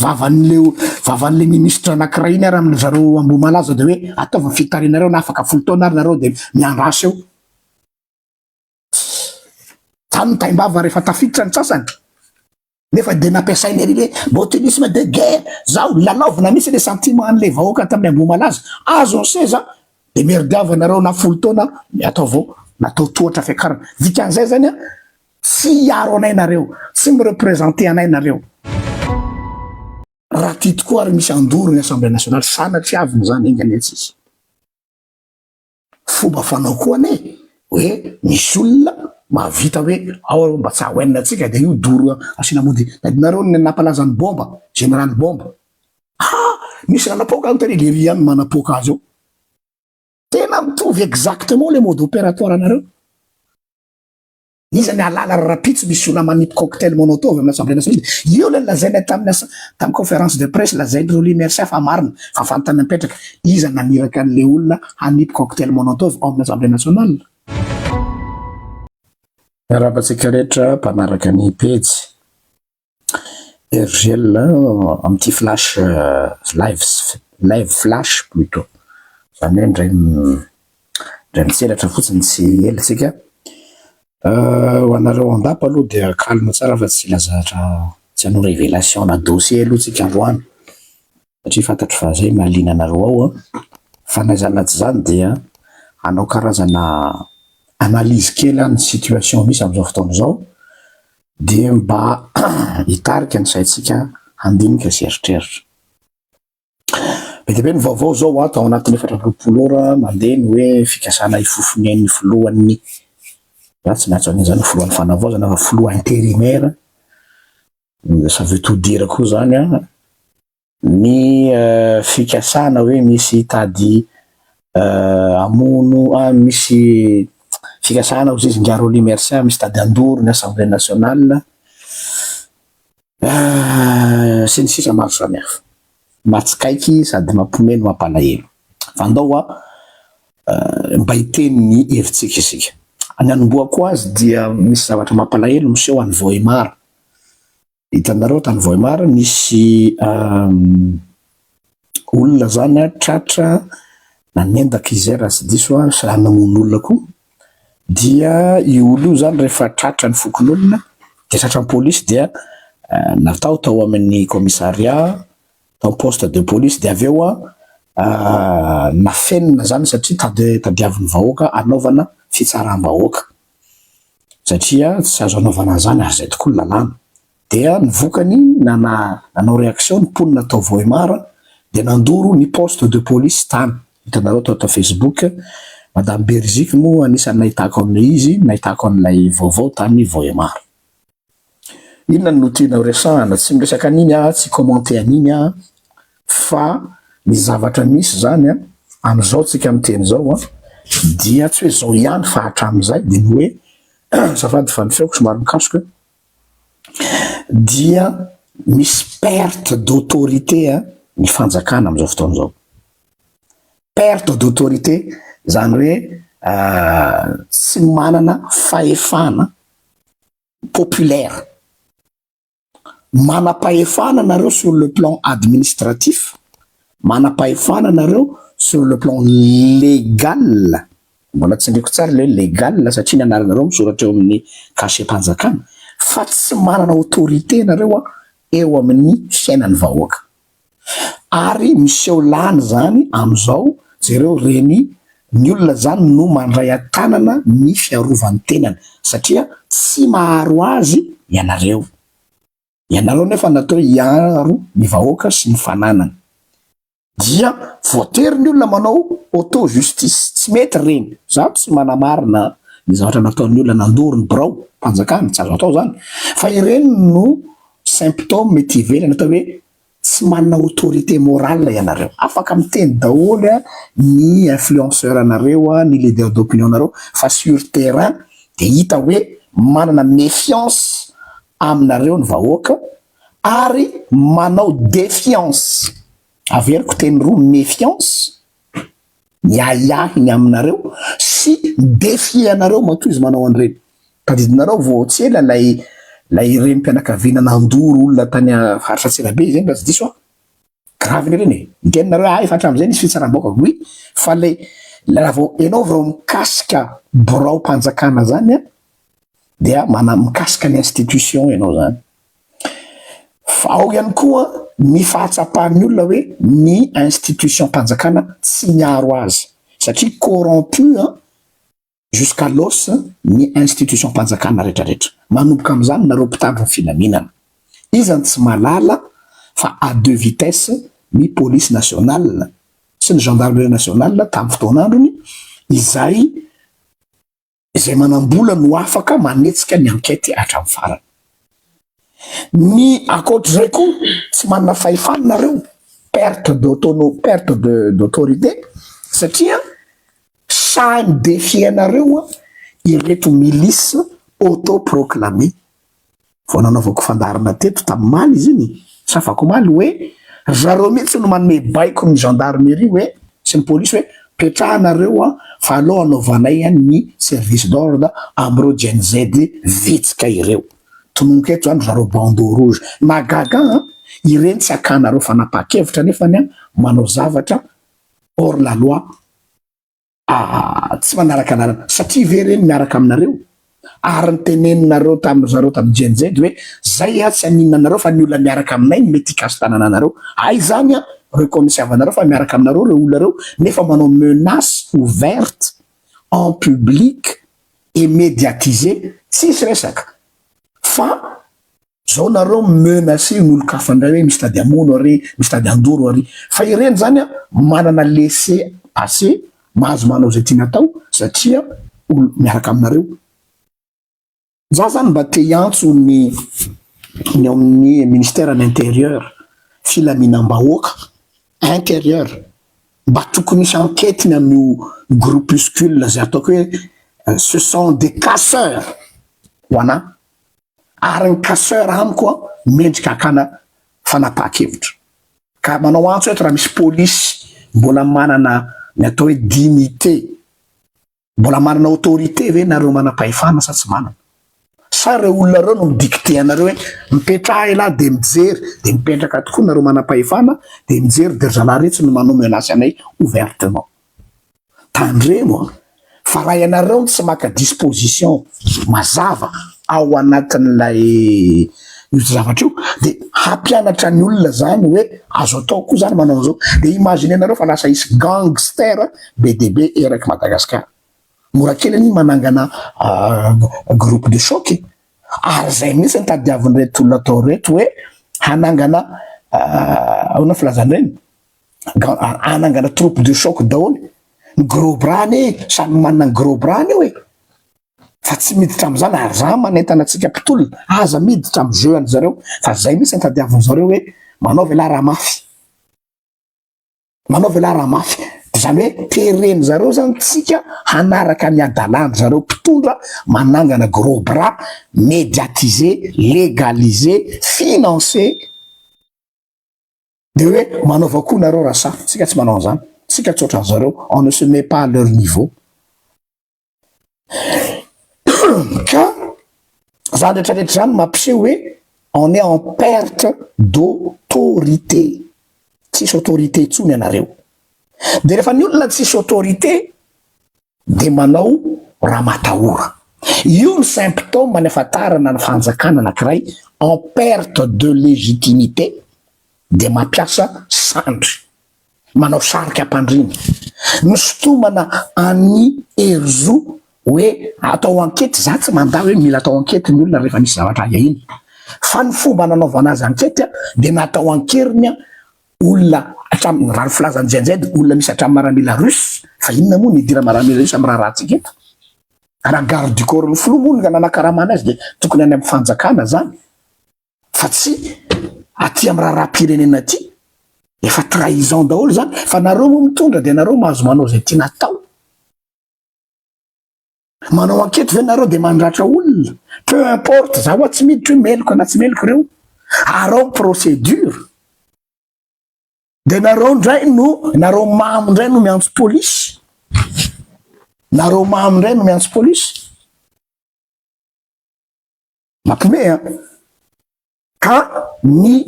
vavan'leo vavan'le ministra anankiray iny ary aminy zareo Ambohimalaza dia hoe ataovy ny fitarianareo na afaka folo taona ary nareo dia miandrasa eo. Zany ny taimbava rehefa tafiditra ny sasany nefa dia nampiasainy ery hoe botulisme de guerre zao lalaovina mihitsy le sentiment an'le vahoaka tamin'ny ambohimalaza azo ny seza de merdiava nareo na folo taona ny ato avao natao tohatra fiakarana dikan'izay zany a tsy hiaro anay nareo tsy mirepresente anay nareo raha ty tokoa ary misy andoro ny assemblée nationale sanatria aviny zany enga anie tsisy Fomba fanao koa anie hoe misy olona mahavita hoe ao aloha mba tsy haoenina antsika dia io doro asiana mody tadinareo ny nampalaza ny bomba, jeneraly bomba. Ha! Misy nanapoaka aho teny lery ihany manapoaka azy eo. Tena mitovy exactement le mode operatoire anareo. Iza ny hahalala raha rahampitso misy olona manipy cocktail monotov amin'ny Assemblée nationale? Io ilay nolazainay tamin'ny asa, tamin'ny conférence de presse, lazain'i Rolly Mercia fa marina, fa fanontaniana mipetraka, iza naniraka an'ilay olona hanipy cocktail monotov ao amin'ny Assemblée nationale? Miarahaba antsika rehetra mpanaraka ny pejy. RGL amin'ity flash live live flash plutot, izany hoe indray indray mitselatra fotsiny tsy ela isika. Ho anareo andapa aloha dia calme tsara fa tsy hila zatra tsy hanao révélation na dossier aloha isika androany satria fantatro fa izay mahaliana anareo ao an. Fa na izany na tsy izany dia hanao karazana analyse kely aho ny situation misy amin'izao fotoana izao. Dia mba hitarika ny saintsika handinika sy hieritreritra. Be dia be ny vaovao izao ho ato ao anatin'ny efatra amby roapolo ora mandeha ny hoe fikasana hifofonen'ny filohan'ny, na tsy maintsy an'iny izany ny filohan'ny fanavaozana fa filoha intérimaire, ça veut tout dire koa izany an! Ny fikasana hoe misy hitady hamono, misy fikasana ho zezin-dra Rolly Mercia misy hitady handoro ny Assemblée Nationale sy ny sisa maro samihafa. Mahatsikaiky sady mampiomehy no mampalahelo. Fa andao hoa mba hiteny ny hevitsika isika. Ny hanombohako azy dia misy zavatra mampalahelo miseho any Vohemar. Hitanareo tany Vohemar nisy olona zany a tratra nanendaka izay raha tsy diso aho sa namono olona koa dia io olona io zany rehefa tratra ny fokonolona dia tratra ny polisy dia natao tao amin'ny kaomisaria tao poste de police dia avy eo a nafenina zany satria tadiavin'ny vahoaka anaovana fitsaram-bahoaka. satria tsy azo anaovana an'izany ary izay tokoa ny lalàna. Dia ny vokany nana nanao réaction ny mponina tao Vohemar dia nandoro ny poste de police tany, hitanareo tao tao Facebook, madame Beriziky moa anisan'ny nahitako an'ilay izy, nahitako an'ilay vaovao tany Vohemar. Inona no tianao resahana? Tsy miresaka an'iny aho, tsy hi-commenter an'iny aho fa ny zavatra misy izany amin'izao tsika miteny izao dia tsy hoe izao ihany fa hatramin'izay dia ny hoe azafady fa ny feoko somary mikasoka dia misy perte d'autorité ny fanjakana amin'izao fotoana izao. Perte d'autorité izany hoe tsy manana fahefana. populaire. Manam-pahefana nareo sur le plan administratif, manam-pahefana nareo sur le plan légal, mbola tsindriako tsara ilay hoe légal satria ny anaranareo misoratra eo amin'ny cachet-panjakana, fa tsy manana autorité nareo eo amin'ny fiainan'ny vahoaka. ary miseho lany izany amin'izao, jereo re ny ny olona izany no mandray an-tanana ny fiarovany tenany satria tsy maharo azy ianareo, ianareo nefa natao hiaro ny vahoaka sy ny fananany dia voatery ny olona manao auto justice, tsy mety ireny, za tsy manamarina ny zavatra nataon'ny olona nandory ny birao mpanjakana, tsy azo atao izany fa ireny no Symptôme ety ivelany atao hoe tsy manana autorité morale ianareo. Afaka miteny daholo ny influenceurs anareo, ny leader d'opinion nareo fa sur terrain dia hita hoe manana méfiance aminareo ny vahoaka ary manao défiance, averiko teny roa, méfiance Ny ahiahy ny aminareo sy mi-defier anareo matoa izy manao an'ireny. Tadidinareo vao tsy ela ilay ilay renim-pianakaviana nandoro olona tany faritra Antsirabe izay raha tsy diso aho. Gravy ireny e! Niteny nareo ah efa hatramin'izay nisy fitsaram-bahoaka oui fa ilay ilay raha vao ianao vao mikasika birao-panjakana izany an! dia mana mikasika ny institution ianao zany fa ao ihany koa ny fahatsapan'ny olona hoe ny institution-panjakana tsy miaro azy satria corrompu an jusqu'à l'os ny institution-panjakana retraretra manomboka amin'izany nareo mpitandro ny filaminana iza no tsy malala fa à deux vitesse ny police nationale sy ny gendarmerie nationale tamin'ny fotoan'androny izay izay manam-bola no afaka manetsika ny ankety hatramin'ny farany. Ny ankoatr'izay koa tsy manana fahefana nareo, perte d'autono, perte de d'autorité, satria sahy mi-defier anareo ireto milices auto-proclames. Vao nanaovako fandaharana teto tamin'ny maly izy iny, sa vakomaly, hoe ry zareo mihitsy no manome baiko ny gendarmerie hoe, sy ny polisy hoe petrahanareo an fa aleo anaovanay an ny service d'ordre amin'ireo Gen Z vitsika ireo. Tononiko eto izany ry zareo bandeau rouge. Mahagaga an! Ireny tsy akanareo fanapahan-kevitra nefany an manao zavatra hors la loi. Aa tsy manaraka lalana satria ve reny miaraka aminareo? Ary ny teneninareo tamin-dry zareo tamin'ny GNZ hoe zay a tsy haninona anareo fa ny olona miaraka aminay no mety hikaso tanana anareo. Ay izany a reo kaonisiavanareo fa miaraka aminareo reo olona reo nefa manao menace ouverte en public et mediatise tsisy resaka fa Zao nareo mi menacer ny olon-kafa indray hoe misy tady hamono ary, misy tady handoro ary. Fa ireny zany an, manana laisser passer, mahazo manao izay tiany atao satria olo miaraka aminareo. Za zany mba te hiantso ny ny ao amin'ny ministère an' intérieur, filaminam-bahoaka, intérieur, mba tokony hisy enquête ny amin'io groupuscule izay ataoko hoe ce sont des casseurs ho anah. ary ny casseur amiko mendrika hakana fanapahan-kevitra ka manao antso eto raha misy polisy mbola manana ny atao hoe dignité, mbola manana autorité ve nareo manam-pahefana sa tsy manana? Sa ireo olona ireo no mi-dicter anareo hoe mipetraha elah dia mijery, dia mipetraka tokoa nareo manam-pahefana dia mijery dia ry zalahy iretsy no manome menace anay ouvertement. Tandremo fa raha ianareo no tsy maka disposition mazava ao anatin'ilay io zavatra io de hampianatra ny olona zany hoe azo atao koa zany manao an'izao. De imaginenareo fa lasa hisy gangster be dia be eraky Madagascar. Mora kely anie manangana groupe de choc e! Ary zay mihitsy no tadiavin'ireto olona atao ireto hoe hanangana ahoana ny filazana eny? anangana troupe de choc daholo ny gros bras anie samy manana ny gros bras ny eo e fa tsy miditra amizany ary za manentana antsika mpitolona aza miditra amy jeu an'i zareo fa zay mihitsy ny tadiaviny zareo hoe manaova ialahy raha mafy manaova ialahy raha mafy de zany hoe tereny zareo zany tsika hanaraka ny adalany zareo mpitondra manangana gros bras mediatise legaliser financer Dia hoe manaova koa nareo raha sahy, tsika tsy manao an'izany, tsika tsy ohatran'ny zareo, on ne se met pas à leur niveau. Ka zany rehetra rehetra zany mampiseho hoe on est en perte d'autorité, tsisy autorité intsony ianareo. Dia rehefa ny olona tsisy autorité, dia manao raha matahora. Io ny symptômes niafatarana ny fanjakana anankiray en perte de légitimité dia mampiasa sandry, manao sarika ampandriana, misintomana an'i Herizo hoe atao ankety, za tsy mandà hoe mila atao ankety ny olona rehefa misy zavatra ahiahina fa ny fomba nanaovana azy ankety dia natao ankeriny olona hatramin'ny, raha ny filazan'ny JNJ, dia olona misy hatramin'ny maramila russe, fa inona moa no hidiran'ny maramila russe amin'ny raharahantsika eto? Raha garde du corps ny filoha moa no nanankarama anazy dia tokony any amin'ny fanjakana izany fa tsy aty amin'ny raharaham-pirenena aty, efa trahison daholo izany, fa nareo moa mitondra dia nareo mahazo manao izay tiana atao. Manao ankety ve nareo de mandratra olona? Peu importe, za wa tsy miditra hoe meloka na tsy meloka reo, arao procedure. De nareo ndray no, nareo mamo ndray no miantso police. Nareo mamo ndray no miantso police. Mampome an. Ka ny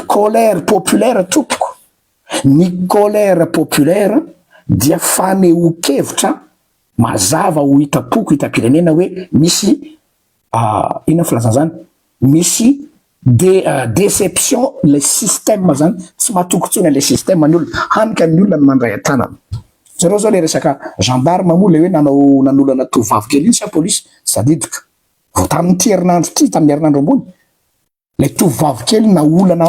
colère populaire tompoko, ny colère populaire dia fanehoan-kevitra mazava ho hitam-poko hitam-pirenena hoe misy inona ny filazana izany? misy déception ilay système izany, tsy matoky intsony an'ilay système ny olona, hany ka ny olona no mandray an-tanana. Jereo izao ilay resaka gendarme moa ilay hoe nanao nanolana tovovavy kely iny sa polisy? Tsy tadidiko. Vao tamin'ity herinandro ity, tamin'ny herinandro ambony, ilay tovovavy kely naolana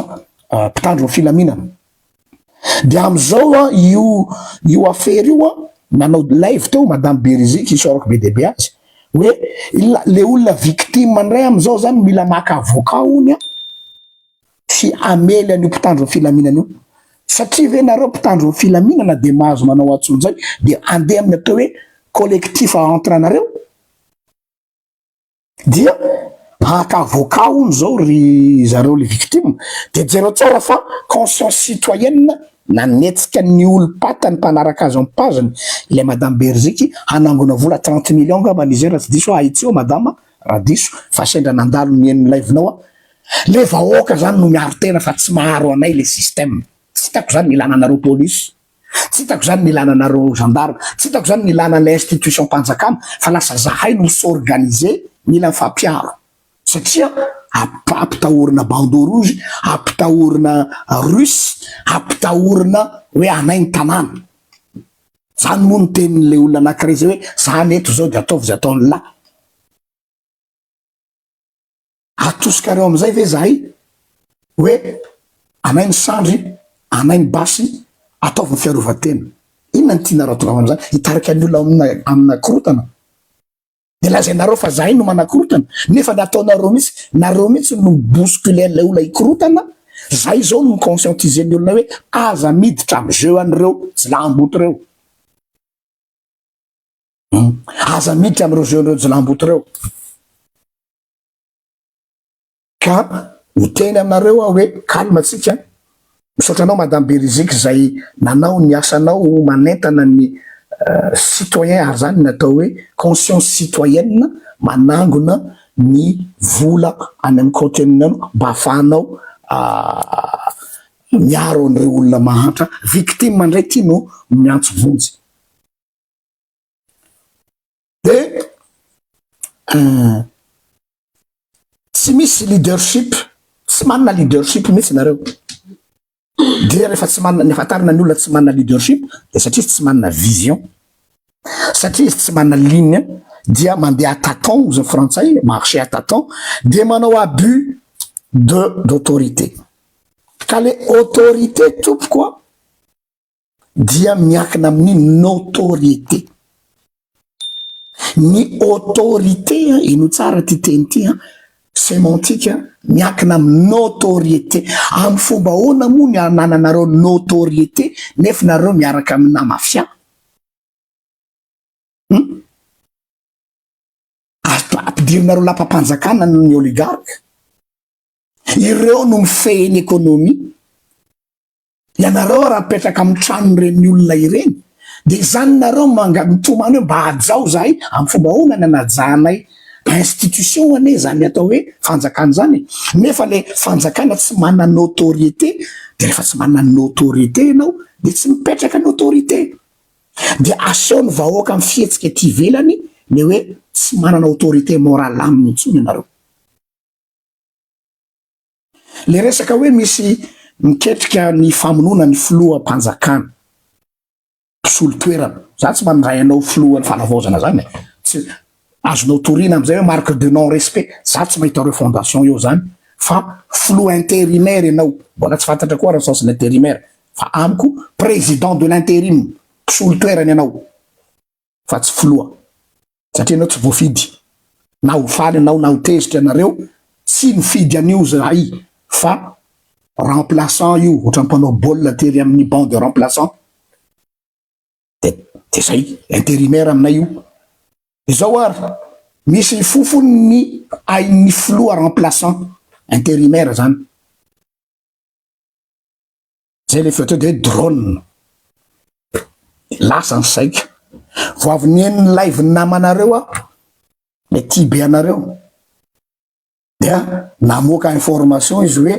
mpitandro ny filaminana. Dia amin'izao an, io io afera io an, nanao live teo Madame Berizi kisaorako be dia be azy, hoe ilay olona victime indray amin'izao izany mila maka avocat hono an, tsy hamely an'io mpitandro ny filaminana io. Satria ve nareo mpitandro ny filaminana dia mahazo manao antsony izay dia andeha amin'ny atao hoe collectif entre anareo? Dia haka avocat hono zao ry zareo le victime de jereo tsara fa conscience citoyenne nanetsika ny olom-pata ny mpanaraka azy am page-ny ilay madame Beriziky hanangona vola trente millions ngambany izy raha tsy diso ahy tsy eo madama raha diso fa sendra nandalo ny eny live-nao aho le vahoaka zany no miaro tena fa tsy maharo anay le système tsy hitako zany ny ilana anareo police. Tsy hitako izany ny ilana anareo gendarme, tsy hitako izany ny ilana an'ilay institution-panjakana fa lasa zahay no s'organiser, mila mifampiaro satria ampitahorina bandeau rouge, ampitahorina russe, ampitahorina hoe anay ny tanàna. Izany moa no tenin'ilay olona anankiray izay hoe izany eto izao dia ataovy izay ataon'lah. Atosikareo amizay ve zahay hoe anay ny sandry, anay ny basy, ataovy ny fiarovatena. Inona no tiana ratonava amizany? Hitarika ny olona amina korotana? De lazainareo fa zahay no manakorotana nefa ny ataonareo mitsy, nareo mitsy no mi bousculer an'ilay olona hikorotana, zahay zao no mi conscientiser ny olona hoe aza miditra am jeu an'ireo jilamboto reo. Hum. Aza miditra am reo jeu nireo jilamboto reo. Ka hiteny aminareo aho hoe calme antsika an! Misaotra anao Madame Beriziky izay nanao ny asanao manentana ny citoyen ary izany no atao hoe conscience citoyenne manangona ny vola any amin'ny compte-nao mba ahafahanao miaro an'ireo olona mahantra victime indray ity no miantso vonjy. Dia tsy misy leadership, tsy manana leadership mihitsy nareo. Dia rehefa tsy manana, ny afantarana ny olona tsy manana leadership dia satria izy tsy manana vision. Satria izy tsy manana ligne dia mandeha à tâtons hoy izao frantsay, marcher à tâtons, dia manao abus de d'autorité. Ka le autorité tompoko an, dia miankina amin'ny notoriété. Ny autorité, henoy tsara ity teny ity an, semantique, miankina amin'ny notoriété. Amin'ny fomba ahoana moa ny anananareo notoriété nefa nareo miaraka amina mafia? Hum? Ampidirinareo lapam-panjakana ny oligarque. Ireo no mifehy ny économie. Ianareo raha mipetraka amin'ny tranon'ireny olona ireny, dia izany nareo manga mitomany hoe mba hajao izahay, amin'ny fomba ahoana ny hanajanay institution anie izany atao hoe fanjakana izany e? Nefa ilay fanjakana tsy manana autorité, dia rehefa tsy manana autorité ianao dia tsy mipetraka ny autorité, dia asehon'ny vahoaka amin'ny fihetsika ety ivelany ny hoe tsy manana autorité morale aminy intsony ianareo. Le resaka hoe misy miketrika ny famonoana ny filoham-panjakana, mpisolo toerana, za tsy mandray anao filohan'ny fanavaozana zany e, tsy azonao toriana amizay hoe marque de non respect, za tsy mahita refondation eo zany fa filoha intérimaire ianao, mbola tsy fantatra koa raha sens-ny intérimaire fa amiko président de l'intérim, mpisolo toerana ianao. fa tsy filoha satria enao tsy voafidy na ho faly enao na ho tezitra ianareo tsy nifidy an'io zahay fa remplaçant io ohatran'ny mpanao baolina tery amin'ny banc de remplaçant de de zay intérimaire aminay io izao ary misy ny fofony ny ain'ny filoha remplaçant intérimaire zany Zay le feo teo de hoe drone. Lasa ny saiko. Vao avy nihaino ny live-n'ny namanareo aho, le tia be anareo. Dia namoaka information izy hoe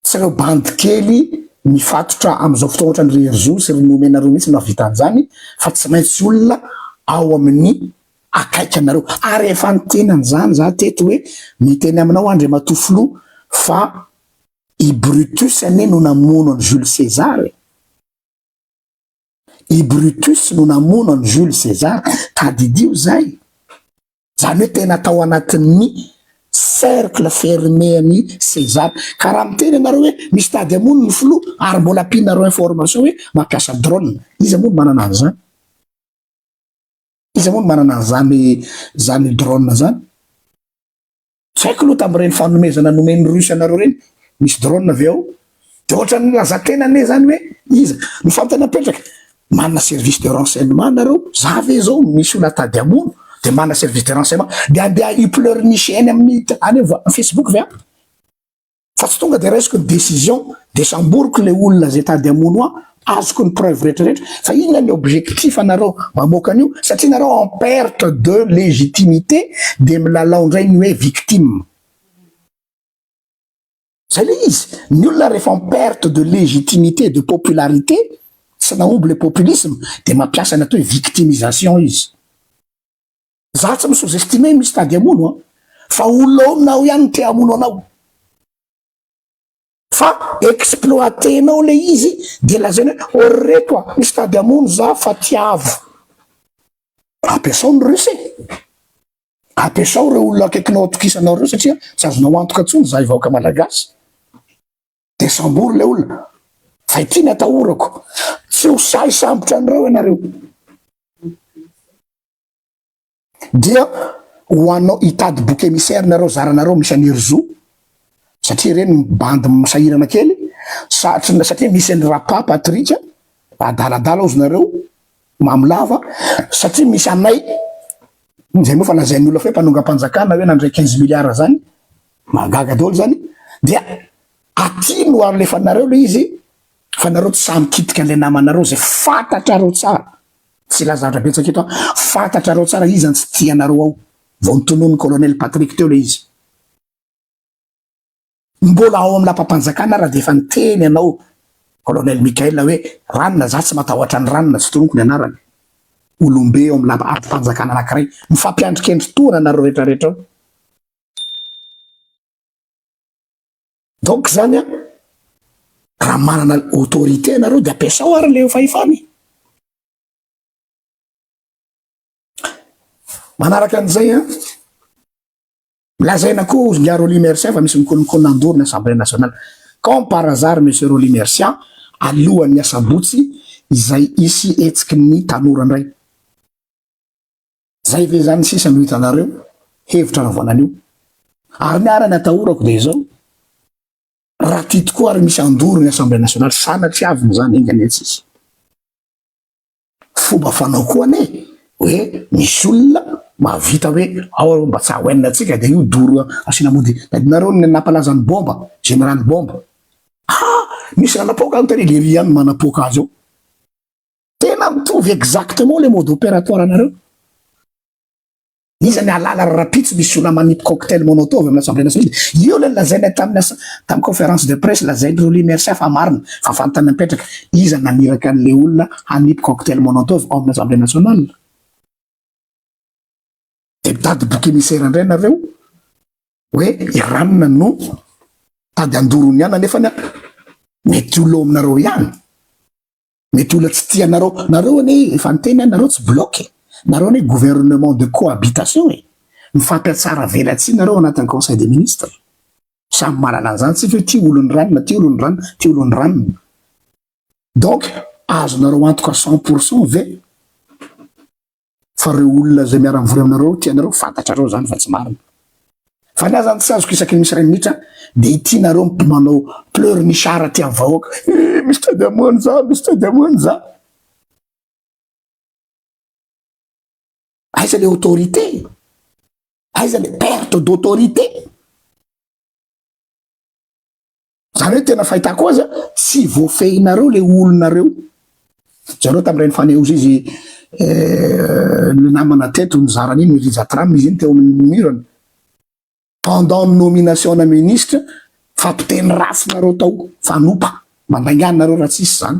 tsy ireo bandy kely mifatotra amin'izao fotoana ohatran'ny ry Herizou sy ry Nomenareo mihitsy no hahavita an'izany fa tsy maintsy olona ao amin'ny akaiky anareo. Ary efa niteny an'izany za teto hoe miteny aminao Andriamatoa Filoha fa I Brutus anie no namono an'i Jules César e! I Brutus no namono an'i Jules César, tadidio izay! Izany hoe tena tao anatin'ny cercle fermé an'i César. Ka raha miteny ianareo hoe misy tady hamono ny filoha ary mbola ampianareo information hoe mampiasa drone, iza moa no manana an'izany? Iza moa no manana an'izany izany drone izany? Tsy haiko aloha tamin'ireny fanomezana nomen'ny Russe anareo ireny, misy drone ve ao? Dia ohatran'ny nilazan-tena anie izany hoe iza no fantany hapetraka? Manana service de renseignement nareo, za ve izao misy olona tady hamono dia manana service de renseignement dia andeha hi-pleurnicher eny amin'ny any amin'ny facebook ve aho? Fa tsy tonga de raisiko ny décision de samboriko le olona zay tady hamono ahy, azoko ny preuve rehetra rehetra, fa inona ny objectif anareo mamoaka an'io, satria nareo en perte de légitimité de milalao ndray ny hoe victime. Zay le izy, ny olona rehefa en perte de légitimité de popularité, tsy nahomby le populisme, de mampiasa ny atao hoe victimisation izy. Za tsy mi sous-estimer ny mistady hamono an! Fa olonao ihany ny te hamono anao! Fa exploiter-nao le izy de lazaina hoe oh ry reto a! Misy tady hamono za fa tiavo! Ampiasao ny Russe e! Ampiasao reo olona akaikinao atokisanao reo satria tsy azonao antoka tsony zahay vahoaka malagasy! De sambory le olona! Fa ity ny atahorako! Tsy ho sahy sambotra anreo ianareo! Dia ho anao hitady boky emissaire nareo zaranareo misy an'i Herzo satria ireny bandy misahirana kely satry satria misy an'i Rapa Patrick adaladala ozy nareo mamo lava satria misy anay zay moa fa lazain'ny olona fa hoe mpanongam-panjakana hoe nandray quinze milliards zany mahagaga daholo zany dia aty no alefanareo le izy fa nareo tsy sahy mikitika an'ilay namanareo zay fantatrareo tsara Tsy lazadra betsaka eto an. Fantatrareo tsara iza tsy tia anareo ao. Vao notononin'i Colonel Patrick teo le izy. Mbola ao amin'ny lapam-panjakana ara dia efa niteny ianao Colonel Michael hoe Ranona, za tsy matahotra an'i Ranona, tsy tononiko ny anarany. Olombe ao amin'ny lapam-panjakana anankiray. Mifampiandrikendry tohana nareo retraretra ao. Donc zany an, raha manana autorité ianareo dia ampiasao ary ilay fahefana e! Manaraka an'izay an, lazaina koa hozy ingahy Rolly Mercia fa misy mikolokolo handoro ny Assemblée Nationale. Comme par hasard Monsieur Rolly Mercia, alohan'ny asabotsy izay hisy hetsiky ny tanora indray. Zay ve zany sisa no hitanareo hevitra anaovana an'io? Ary ny arany atahorako dia izao, raha tia tokoa ary misy handoro ny Assemblée nationale, sanatria avy n'izany enga anie tsisy fomba fanao koa anie hoe misy olona mahavita hoe ao aloha mba tsy haoenina antsika dia io doro asiana mody. Tadinareo ny nampalaza ny bomba, général bomba. Ah! Nisy nanapoaka any tary Lery ihany no manapoaka azy ao. Tena mitovy exactement le mode opératoire anareo. Iza ny ahalala ry rapitso misy olona manipy cocktail monotov amina assemblée nationale. Io le nolazainay taminy asa tam conférence de presse lazainy roly mercia fa marina fa fantany mipetraka. Iza naniraka anle olona hanipy cocktail monotov ao amina assemblée nationale. De mitady bouc émissaire ndray nareo oe Iran no tady handoro ny anany nefany mety ho lo aminareo ihany. Mety olona tsy tia anareo. Nareo anie efa niteny an, nareo tsy bloc e. Nareo anie gouvernement de cohabitation e. Mifampiatsara velatsihy nareo anatin'ny conseil des ministres. Samy mahalala an'izany tsika hoe ty olon'ny ranona, ty olon'ny ranona, ty olon'ny ranona. Donc azonareo antoka cent pour cent ve? fa reo olona izay miara mivory aminareo tianareo fantatrareo zany fa tsy marina fa ny ahy zany tsy azoko isaky ny misy ray minitra de ity nareo mpimanao pleur ny sara ty amin'ny vahoaka eh, misy tady amoany za misy tady amoany za aiza le autorité aiza le perte d'autorité Zany hoe tena fahitako azy a, tsy voafehinareo le olonareo. Zareo tamin'ireny fanehoza izy le namana teto nizara an'iny ny Rija Tram izy iny teo amin'ny mur ny pendant ny nomination ana ministre fa mpiteny ratsy nareo tao, fanopa, mandainga anareo raha tsisy zany.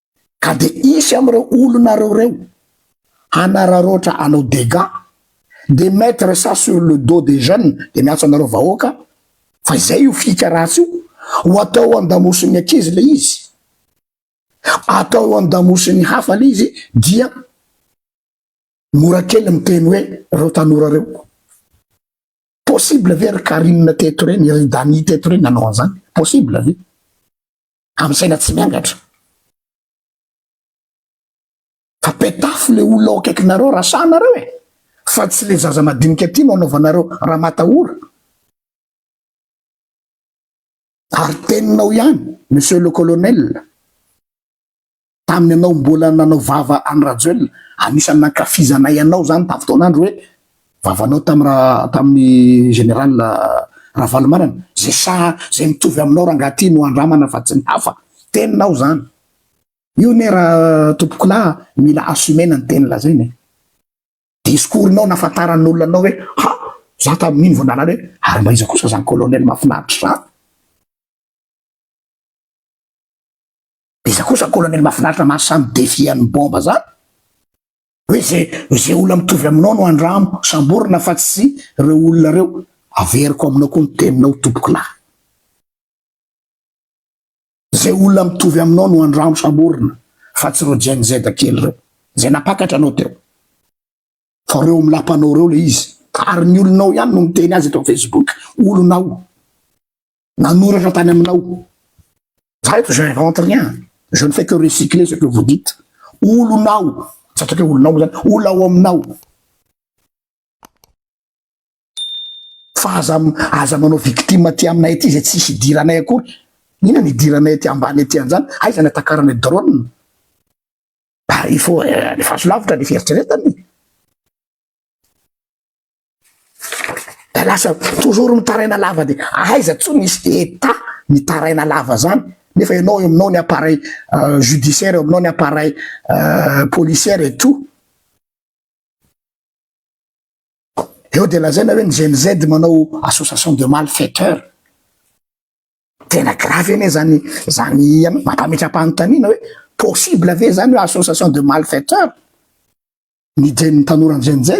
ka de hisy am'reo olonareo reo hanararaotra anao dégats de mettre ça sur le dos des jeunes de miantso anareo vahoaka fa izay io fika ratsy io ho atao eo andamosin'ny ankizy le izy atao eo andamosin'ny hafa le izy dia mora kely miteny hoe reo tanora reo possible ve ry Carine teto reny ry Dany teto reny nanao an'zany possible ve amin'ny saina tsy miangatra. Fa petafo le olona ao akaikinareo rasahanareo e, fa tsy le zaza madinika aty no anaovanareo ramatahora. Ary teninao ihany Monsieur le Colonel. tamin'ny anao mbola nanao vava an'i Rajoelina, anisan'ny nankafizanay anao zany tamin'ny fotoan'andro hoe vavanao tamin'i ra, tamin'ny général Ravalomanana, zay saha, zay mitovy aminao rangaha ty no andramana fa tsy ny hafa, teninao zany, io ne ra tompokolahy mila assumer-na ny teny lazaina e, discours-nao nafantaran'olona anao hoe ha, za tamin'iny vao nalala hoe ary mba iza kosa zany colonel mahafinaritra zany, De za kosa colonel mafinaritra maha samy defi an'ny bomba zany hoe ze ze olona mitovy aminao no andramo samborina fa tsy reo olona reo averiko aminao koa ny teninao tompoko lahy ze olona mitovy aminao no andramo samborina fa tsy reo gen z kely reo ze napakatra anao teo fa reo milapanao reo le izy ary ny olonao ihany no miteny azy eto amin'ny facebook olonao Nanoratra tany aminao. Za eto je rentre rien. Je ne fais que recycler ce que vous dites. Olonao, tsy ataoko hoe olonao moa zany, olona ao aminao. Fa aza aza manao victime aty aminay aty izay tsisy idiranay akory. Inona no idiranay aty ambany aty an'izany? Aiza ny atakaranay drone? Bah, il faut alefaso lavitra ny fieritreretana e. Da lasa toujours mitaraina lava de aiza tsony misy état mitaraina lava zany nefa enao eo aminao ny appareil judiciaire eo aminao ny appareil policière et tout eo de lazaina hoe ny gen z manao association de mal faiteur tena grave anie zany zany ianao mampametra-panontaniana hoe possible ve zany hoe association de mal faiteur ny Gen tanora Gen Z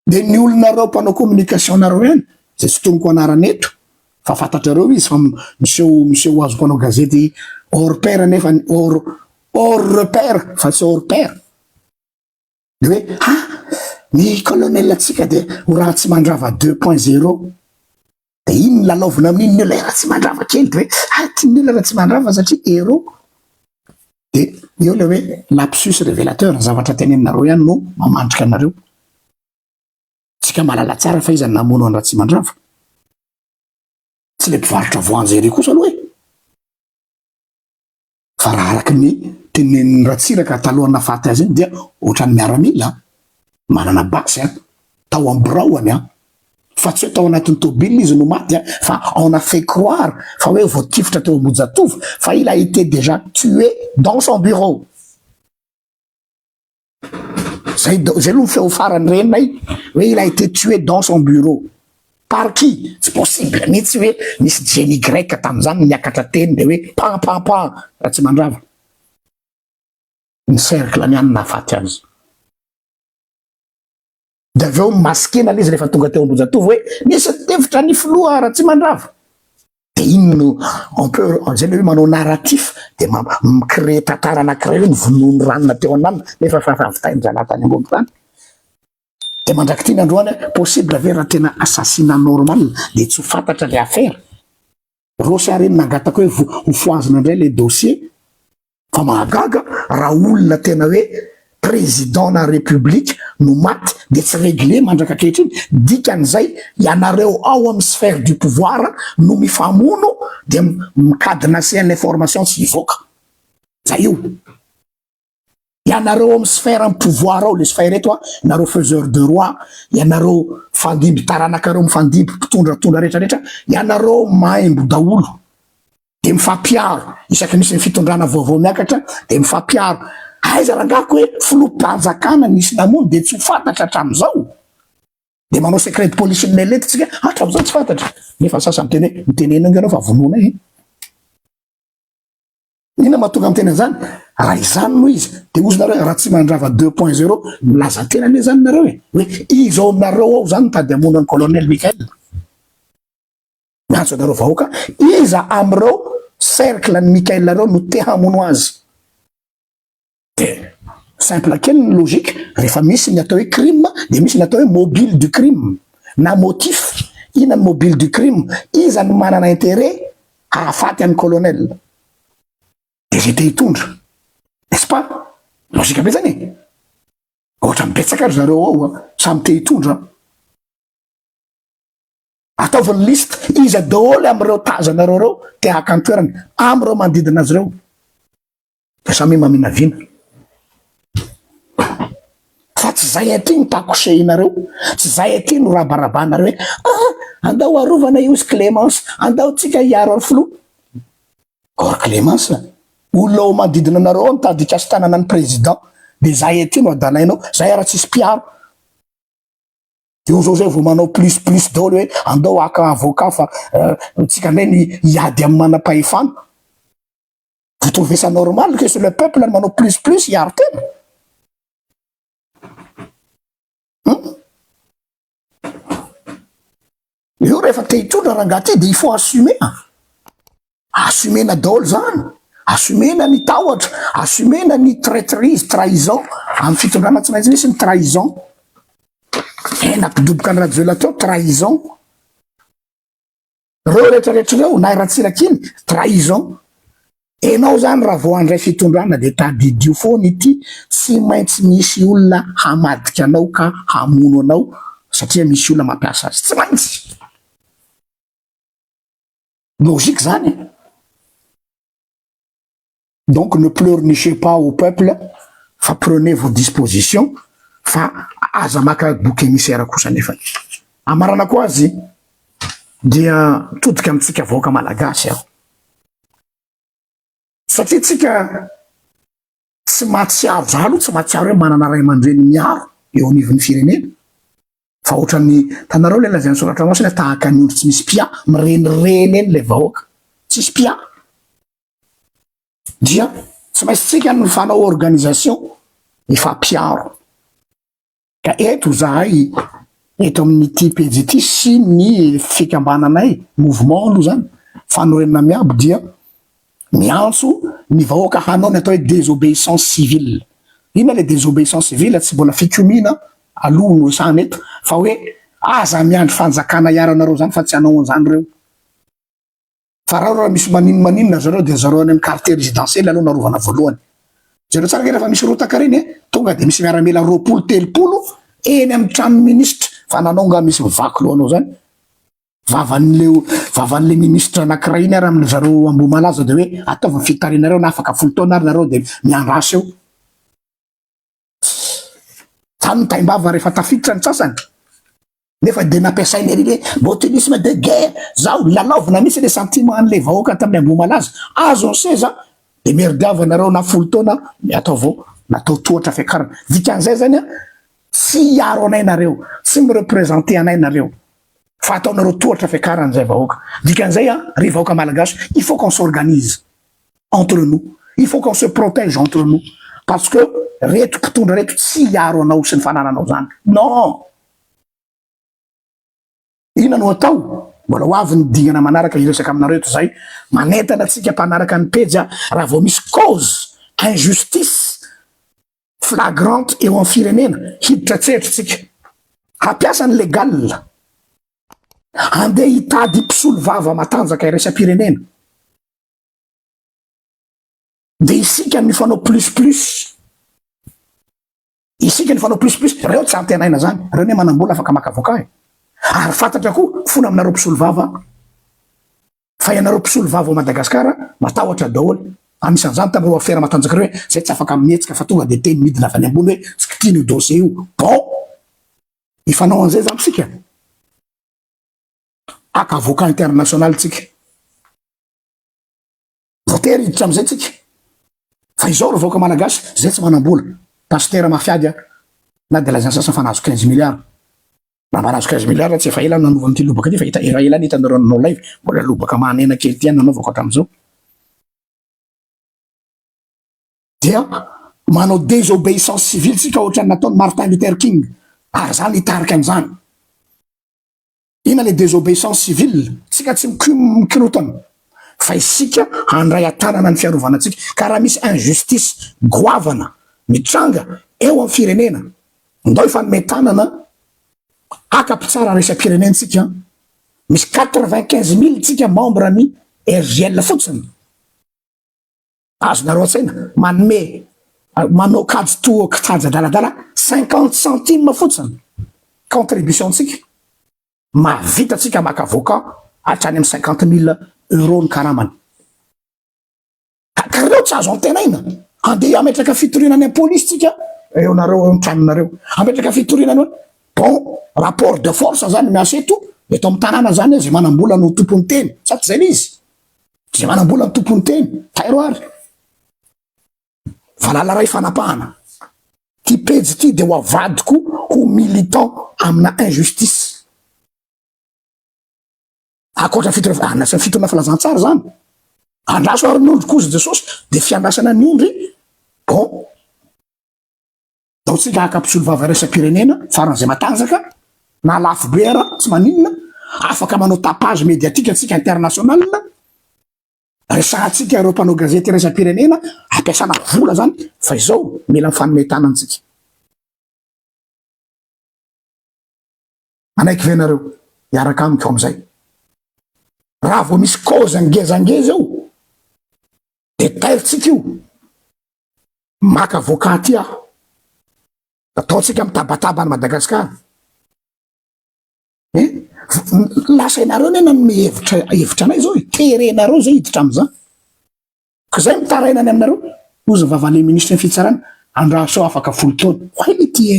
dia ny olonareo mpanao communication nareo ihany izay tsy tonoko anarana eto fa fantatrareo izy fa miseho miseho ho azy mpanao gazety hors pair nefa ny hors hors repère fa tsy hors pair dia hoe ha ny colonel antsika dia ho ratsy mandrava deux point zero Dia iny ny lalaovina amin'iny ny olona efa tsy mandrava kely dia hoe hay tian'ny olona efa tsy mandrava satria héros. Dia eo ilay hoe lapsus révélateur, ny zavatra tenenanareo ihany no mamandrika anareo. Tsika malala tsara fa iza no namono an'i Ratsimandrava. Tsy ilay mpivarotra voanjo ery kosa aloha e. Fa raha araka ny tenenin'i Ratsiraka talohan'ny nahafaty azy iny dia ohatran'ny miaramila an! Manana basy an! Tao amin'ny biraoany an! Fa tsy hoe tao anatin'ny tomobilina izy no maty an! Fa on a fait croire fa hoe voatifitra teo Ambohijatovo fa il a été déjà tué dans son bureau! zay da zay aloha ny feo farany renay hoe il a été tué dans son bureau par qui? tsy possible mihitsy hoe nisy génie grec tamin'izany niakatra teny de hoe pan pan pan Ratsimandrava ny cercle-ny ihany nahafaty azy Dia avy eo maskena ilay izy rehefa tonga teo Ambohijatovo hoe misy tevitra ny filoha Ratsimandrava. Dia iny no on peut izay ilay hoe manao narratif dia mi-créer tantara anankiray hoe novonoin'ny ranona teo andaniny nefa efa ravitain-drahalahy tany ambony tany. Dia mandrak'ity ny androany possible ve raha tena assassinat normal dia tsy ho fantatra ilay affaire? Rossy ary nangataka hoe hofohazina indray ilay dossier fa mahagaga raha olona tena hoe président na république no maty dia tsy réglé mandraka ankehitriny, dikan'izay ianareo ao amin'ny sphère du pouvoir no mifamono dia mi cadenasse ny information tsy hivoaka. Zay io. Ianareo ao amin'ny sphère am pouvoir ao, le sphère eto a, nareo faiseur de roi, ianareo fandimby taranakareo mifandimby, mpitondratondra rehetra rehetra, ianareo maimbo daholo, de mifampiaro, isaky misy ny fitondrana vaovao miakatra de mifampiaro, aiza rangaha ko hoe filoham-panjakana nisy namono de tsy ho fantatra hatramin'izao? de manao secret de police-n'ny lelety tsika hatramin'izao tsy fantatra, nefa ny sasany miteny hoe, mitenena enga ianao fa vonoina e! Inona mahatonga miteny an'izany? Raha izany no izy, dia hozy nareo Ratsimandrava deux point zero, milaza tena anie izany nareo e! Hoe izy ao aminareo ao izany mitady hamono an'i Colonel Michael. Miantso anareo vahoaka, iza amin'ireo cercle an'i Michael ireo no te hamono azy? Dia simple kely ny logique, rehefa misy ny atao hoe crime dia misy ny atao hoe mobile du crime na motif. Inona ny mobile du crime? Iza no manana intérêt hahafaty an'i colonel? Dia zay te hitondra. N'est-ce pas? Logique be zany e! Ohatrany betsaka ry zareo ao a! Samy te hitondra an! Ataovy ny liste, iza daholo amin'ireo tazanareo ireo te haka ny toerany, amin'ireo manodidina azy ireo. Fa samy maminavina. Fa tsy zay aty no takosehinareo, tsy zay aty no rabarabanareo hoe ah andao arovana io zy Clémence, andao tsika hiaro an'i filoha. Or Clémence, olona ao manodidina anareo ao mitady hikasi-tanana ny président, de zay aty no adalainao, zay ary tsisy mpiaro. Eo zao zay vao manao plus plus daoly hoe andao haka avocat fa tsika ndray ny hiady amin'ny manam-pahefana. Vous trouvez ça normal que c'est le peuple no manao plus plus hiaro tena? Hum? Eo rehefa te hitondra rangaha ty dia il faut assumer. Assumena daholo zany. Assumena ny tahotra, assumena ny traîtrise, trahison amin'ny fitondrana tsy maintsy misy ny trahison. Eh, nampidoboka an'i Rajoelina teo trahison. Reo rehetra rehetra reo na i Ratsiraka iny trahison. Enao zany raha vao handray fitondrana de tadidio foana ity tsy maintsy misy olona hamadika anao ka hamono anao satria misy olona mampiasa azy tsy maintsy. Logique zany e. donc ne pleurnichez pas au peuple fa prenez vos dispositions fa aza maka bouc émissaire kosa nefany. Amaranako azy dia mitodika amintsika vahoaka malagasy aho satria tsika tsy mahatsiaro, za aloha tsy mahatsiaro hoe manana ray aman-dreny miaro eo anivon'ny firenena fa ohatran'ny tanareo le lazain'ny soratra masina tahaka ny ondry tsy misy mpia, mirenireny eny le vahoaka tsisy mpia. dia tsy maintsy tsika ny fanao organisation hifampiaro. Ka eto izahay eto amin'ity pejy ity sy ny fikambananay, mouvement aloha izany, fanorenana miabo dia miantso ny vahoaka hanao ny atao hoe désobéissance civile. Inona ilay désobéissance civile? Tsy mbola fikomiana aloha no resahana eto fa hoe aza miandry fanjakana hiaro anareo izany fa tsy hanao an'izany ireo. Farao raha misy maninmaninona zareo dia zareo any am quartier residentiel aloha no arovana voalohany. Jereo tsara nge rehefa misy rotaka reny a, tonga dia misy miaramila roapolo telopolo eny am tranony ministra fa nanao nga misy mivaky lohanao zany? Vavanle vavanle ministra anakiray iny ary am zareo Ambohimalaza dia hoe ataovy ny fitarianareo na afaka folo taona ary nareo dia miandra asa eo. Fa ny taimbava rehefa tafiditra ny sasany nefa dia nampiasaina ery hoe botulisme de guerre zao lalaovina misy le sentiment an'le vahoaka tamin'ny ambohimalaza azo ny seza de merdiava nareo na folo taona miato avao natao tohatra fiakarana dikan'izay zany a tsy hiaro anay nareo tsy mirepresente anay nareo fa ataonareo tohatra fiakarana zay vahoaka dikan'izay a ry vahoaka malagasy il faut qu'on s'organise entre nous, il faut qu'on se protège entre nous parce que reto mpitondra reto tsy hiaro anao sy ny fanananao zany non! Inona no atao? Mbola ho avy ny dingana manaraka hiresaka aminareo eto zay, manentana antsika mpanaraka ny pejy a, raha vao misy cause injustice flagrante eo amin'ny firenena hiditra an-tsehatra isika, hampiasa ny legal, handeha hitady mpisolovava matanjaka iraisam-pirenena. Dia isika no mifanao plus plus. Isika no mifanao plus plus. Reo tsy antenaina zany. Reo ne manam-bola afaka maka avocat e. Ary fantatra koa fona aminareo mpisolo vava fa ianareo mpisolo vava ao Madagascar matahotra daholo. Anisan'izany tamin'ireo afera matanjaka ireo hoe zay tsy afaka mihetsika fa tonga dia teny midina avy any ambony hoe tsy kitihina io dossier io. Bon! Hifanao an'izay zany isika. Haka avoka international tsika. Voatery hiditra amizay tsika. Fa izao ry vahoaka malagasy zay tsy manambola. Pasitera mafiady a. Na de lazainy sasany fa nahazo 15 milliards. Raha mba nahazo 15 milliards tsy efa ela nanovany ty lobaka ty fa hita ela ela any hitanareo ny no live. Mbola lobaka mahanena kely ty any nanaovako hatramizao. Dia manao désobéissance civile tsika ohatrany nataony Martin Luther King. Ary zany hitarika anizany. Inona le desobeissance civile? Tsika tsy mikorotana fa isika handray atanana ny fiarovana antsika ka raha misy injustice goavana mitranga eo amin'ny firenena ndao hifanome tanana haka mpitsara resa-pirenentsika misy quatre-vingt-quinze mille tsika membre ny RJL fotsiny. Azonareo an-tsaina, manome, manao kajy toa kianja adaladala, cinquante centimes fotsiny contribution ntsika, mahavita tsika maka avocat hatrany amin'ny cinquante mille euros ny karamany. Ka reo tsy azo antenaina, andeha hametraka fitoriana any am-polisy tsika, eo nareo eo ny tranonareo, hametraka fitoriana any hoe bon rapport de force zany miasa eto, eto amin'ny tanàna zany izay manam-bola no tompon'ny teny, sa tsy zay le izy? Dia manambola ny tompon'ny teny, tairo ary. Valala iray fanapahana. Ty pejy ity dia ho avadiko ho militant amina injustice. Akoatra fito rehefa andrasana fito na filazantsara zany. Andraso ary ny ondry kozy Jesosy dia fiandrasana ny ondry. Bon. Ataontsika haka mpisolovava iraisam-pirenena faran'izay matanjaka na lafo be ara tsy maninona, afaka manao tapage médiatique antsika international, resahantsika ireo mpanao gazety iraisam-pirenena, ampiasana vola zany fa izao mila mifanome tanana tsika. Manaiky ve nareo hiaraka amiko amizay? Raha vao misy cause ngezangeza eo de tairitsika io, maka avocat aty aho, ataontsika mitabataba any Madagascar e, lasa ianareo ne nanome hevitra hevitra anay zao e, terenareo zay hiditra amizany, ko zay mitaraina any aminareo, ozy ny vavale ministre ny fitsarana, andraso afaka folo taona, why ity e?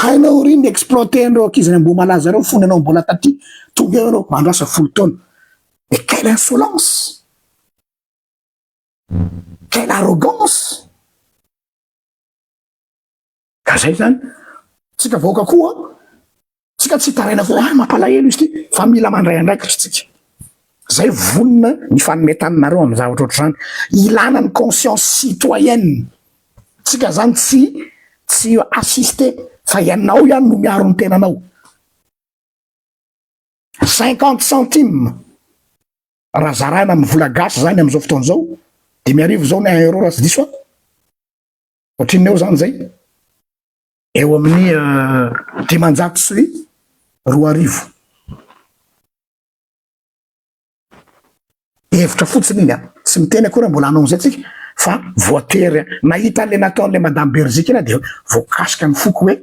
Hainao ry ny exploiter an'ireo ankizy any Ambohimalaza ireo fony ianao mbola taty, tonga eo ianao andro asa folo taona. Mais quelle insolence! Quelle arrogance! Ka zay zany, tsika vahoaka koa, tsika tsy hitaraina foana, ah mampalahelo izy ty, fa mila mandray andraikitra tsika. Zay vonona ny fanome taninareo amin'ny zavatra ohatr'izany. Ilana ny conscience citoyenne tsika zany tsy tsy assister fa ianao ihany no miaro ny tenanao. Cinquante centimes raha zaraina amin'ny vola gasy zany amin'izao fotoana izao, dimy arivo zao ny un euro raha tsy diso aho. Ohatrinona eo zany zay? Eo amin'ny dimanjato sy roa arivo. Hevitra fotsiny iny an, tsy miteny akory an, mbola hanao an'izay tsika fa voatery an, nahita an'ilay nataon'ilay madame Berziky iny aho dia voakasika ny foko hoe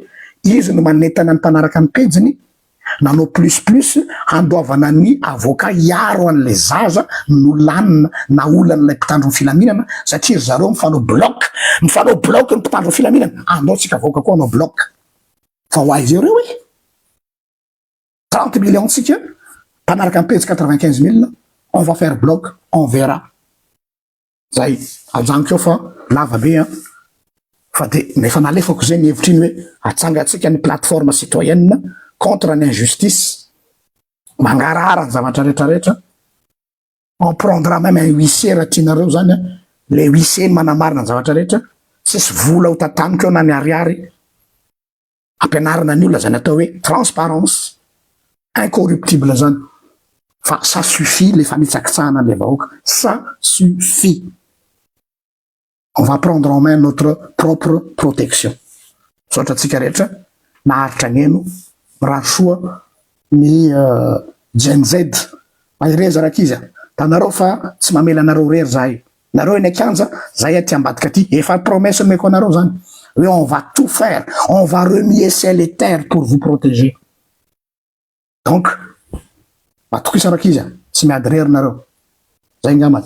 izy no manentana ny mpanaraka ny pejiny nanao plus plus handoavana ny avocat hiaro an'ilay zaza nolanina na olan'ilay mpitandro ny filaminana satria ry zareo mifanao bloc, mifanao bloc ny mpitandro ny filaminana, andao tsika vahoaka koa hanao bloc fa ho aiza eo reo e? 30 millions tsika mpanaraka ny pejy 95 mille on va faire bloc on verra zay ajanoko eo fa lava be an fa de ny efa nalefako zay ny hevitriny hoe atsangatsika ny plateforme citoyenne contre ny injustice mangarahara ny zavatra rehetra rehetra on prendra même un huissier raha tianareo zany an le huissier ny manamarina ny zavatra rehetra tsisy vola ho tataniko eo na ny ariary Ampianarina ny olona zany atao hoe transparence incorruptible zany fa ça suffit le fanitsakitsahana anle vahoaka ça suffit on va prendre en main notre propre protection misaotra antsika rehetra naharitra agneno mirary soa Ny Gen Z, mahereza ry ankizy a! Hitanareo fa tsy mamela anareo irery zahay. Nareo eny an-kianja, zahay aty ambadika aty. Efa promesse nomeko anareo zany hoe on va tout faire, on va renier ciel et terre pour vous proteger. Donc, matokisa ry ankizy a! Tsy miady irery nareo. Zay ngambany.